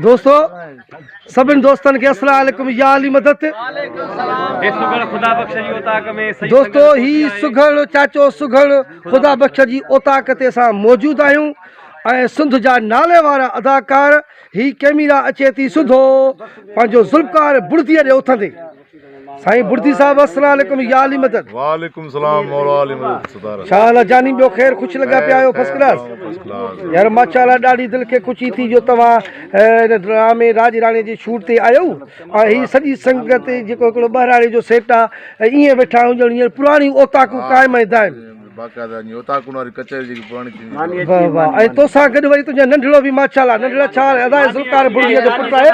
دوستو سڀن دوستن کي السلام عليڪم يا علي مدد دوستو هي سگهڙ چاچو سگهڙ خدا بخش جي اوطاق تي اسان موجود آهيون ۽ سنڌ جا نالي وارا اداڪار هي ڪيميرا اچي ٿي سڌو پنهنجو ذوالفقار بڙدي ڏي اٿندي سائين بڙدي صاحب السلام عليڪم يا علي مدد وعليڪم سلام مولا علي مدد ستاره شاھ الله جاني ٻيو خير خوش لڳا پيا آهيو فرسٽ ڪلاس يار ماشاءالله ڏاڍي دل کي خوشي ٿي جو توهان ان ڊرامي راج راڻي جي شوٽ تي آيو ۽ هي سڄي سنگت جيڪو هڪڙو ٻهراڙي جو سيٽ آ ائين ويٺا آهيون ڄڻ هينئر پراڻي اوطاقون قائم ۽ دائم باقاعده نيوتا ڪنو واري ڪچهري جيڪي پراڻي ٿيندي واهه واهه ۽ تو سان گڏ وري تنهنجا ننڍڙو به ماشاءالله ننڍڙا ڇا ادا ذوالفقار بڙي جو پٽ آهي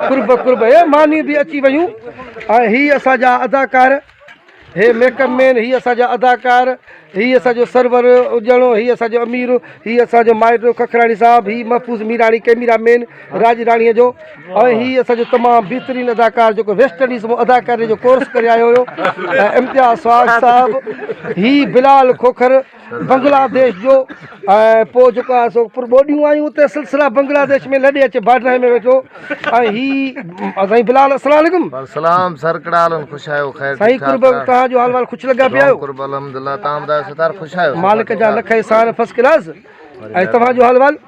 قرب قرب هي ماني به اچي ويون ۽ هي اسان جا اداڪار هي ميڪ اپ مين هي اسان جا اداڪار هي اسان جو سرور اجڻو هي اسان جو امير هي اسان جو مائٽ ککراڻي صاحب هي محفوظ ميراڻي ڪيميرا مين راڄ راڻيء جو ۽ هي اسان جو تمام بهترين اداڪار جيڪو ويسٽ انڊيز مان اداڪاري جو ڪورس ڪري آيو هيو ۽ امتياز سواگ صاحب هي بلال کوکر بنگلا ديش جو ۽ پوء جيڪو آهي سو پر ٻوڏيون آيون اتي سلسله بنگلا ديش ۾ لڏي اچي باڊرائي ۾ ويٺو ۽ هي سائين بلال السلام عليڪم سلام سر ڪهڙا حال آهن خوش آهيو خير سائين ٺيڪ قرب ٺاڪ آهيو توهان جو حال وال خوش لڳا پيا آهيو قرب الحمدلله تان ٻڌايو ستار خوش آهيو مالڪ جا لک احسان فرسٽ ڪلاس ۽ توهان جو حال وال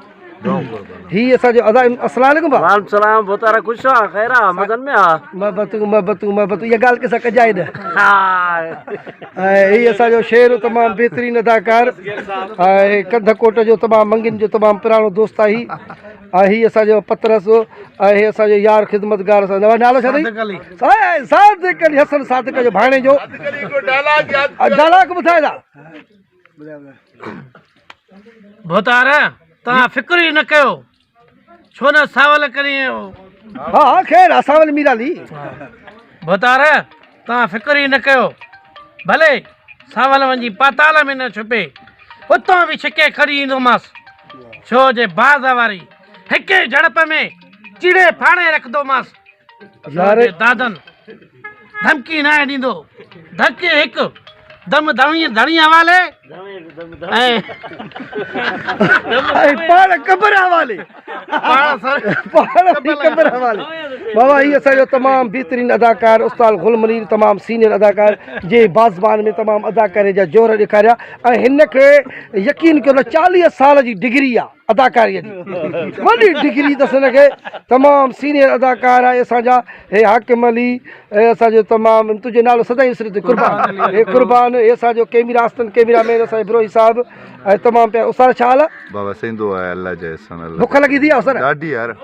هي اسان جو ادا السلام عليڪم با وعليڪم السلام بوتارا خوش آ خير آ مزن ۾ آ محبت محبت محبت يا گال کي سڪجا ايد ها هي اسان جو شعر تمام بهترين اداڪار هي ڪنڌ ڪوٽ جو تمام منگين جو تمام پراڻو دوست آ هي هي اسان جو پترس هي اسان جو يار خدمتگار اسان جو نالو ڇا ٿي صادق علي حسن صادق جو ڀاڻي جو ڊائلاگ ٻڌايو ڀوتار توهان فڪر ئي نه ڪيو ڇو نه ساول ڪري ها ها خير اساول ميرا لي ڀوتار توهان فڪر ئي نه ڪيو ڀلي ساول وڃي پاتال ۾ نه ڇپي اتان به ڇڪي کڙي ايندوماس ڇو جي باز واري هڪ ئي جھڙپ ۾ چيڙي ڦاڙي رکندوماس يار دادن ڌمڪي ناهي ڏيندو ڌڪي هڪ دم ڌڻي ڌڻي حوالي ۽ پاڻ قبر حوالي پاڻ سر پاڻ بي قبر حوالي بابا هي اسان جو تمام بهترين اداڪار استاد غل منير تمام سينيئر اداڪار جي بازبان ۾ تمام اداڪاري جا جوهر ڏيکاريا ۽ هن کي يقين ڪيو نه 40 سال جي ڊگري آ اداڪاري جي وڏي ڊگري اٿس هن کي تمام سينيئر اداڪار آهي اسان جا هي حاڪم علي هي اسان جو تمام تنهنجو نالو سدائين وسريندو قربان هي قربان هي اسان جو ڪيمرا استن ڪيمرا مين اسان بروهي صاحب ۽ تمام پيا اسر ڇا حال آ بابا سيندو آهي الله جي احسان الله بک لڳي ٿي اسر ڏاڍي يار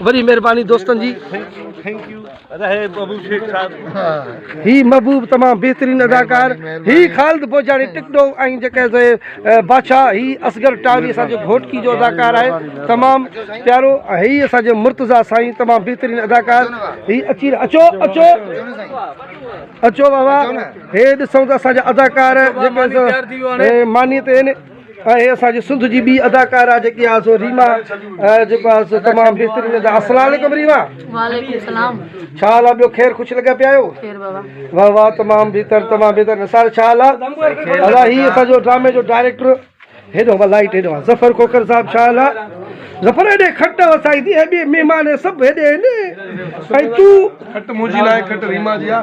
وڏي مھرباني دوستن جي. ٿينڪ يو رھي ببو شيخ صاحب. ھي محبوب تمام بهترين اداڪار ھي خالد بوجاڻي ٽڪ ٽوڪ ۽ جيڪي سي بادشاھ ھي اصغر ٽاھري اسان جي گھوٽڪي جو اداڪار آھي تمام پيارو ھي اسان جي مرتضيٰ سائين تمام بهترين اداڪار ھي اچي اچو اچو اچو بابا ھي ڏسو ته اسان جا اداڪار جيڪي سي ماني تي اهي اسان جي سنڌ جي ٻي اداڪارا جيڪي آ سو ريما جيڪو آ سو تمام بهترين ادا السلام عليڪم ريما وعليڪم السلام ڇا حال آ ٻيو خير خوش لڳا پيا آهيو خير بابا واھ واھ تمام بهتر تمام بهتر سار ڇا حال آ ادا هي اسان جو ڊرامي جو ڊائريڪٽر هيڏو وا لائٽ هيڏو وا ظفر کوکر صاحب ڇا حال آ ظفر هيڏي کٽ وسائي ٿي هيڏي مهمان سڀ هيڏي هن ۽ تو کٽ منهنجي لاء کٽ ريما جي آ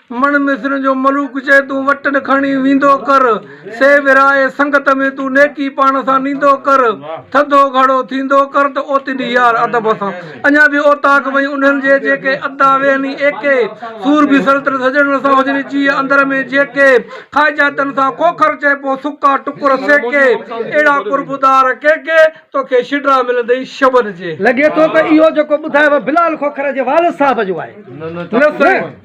مڙ مصرين جو ملوڪ چئي تون وٽن کڻي ويندو ڪر سي ورهائي سنگت ۾ تون نيڪي پاڻ سان نيندو ڪر ٿڌو گهڙو ٿيندو ڪر ته اوتيندي يار ادب سان اڃا به اوطاق وئي انهن جي جيڪي ادا ويهني ايڪي سور به سلطنت سڄڻن سان هجني جيء اندر ۾ جيڪي خواهجاتن سان کوکر چئبو سڪا ٽڪر سيڪي اهڙا قرب دار ڪيڪي توکي شڊرا ملندئي شبن جي. لڳي ٿو ته اهو جيڪو ٻڌايو بلال کوکر جي والد صاحب جو آهي.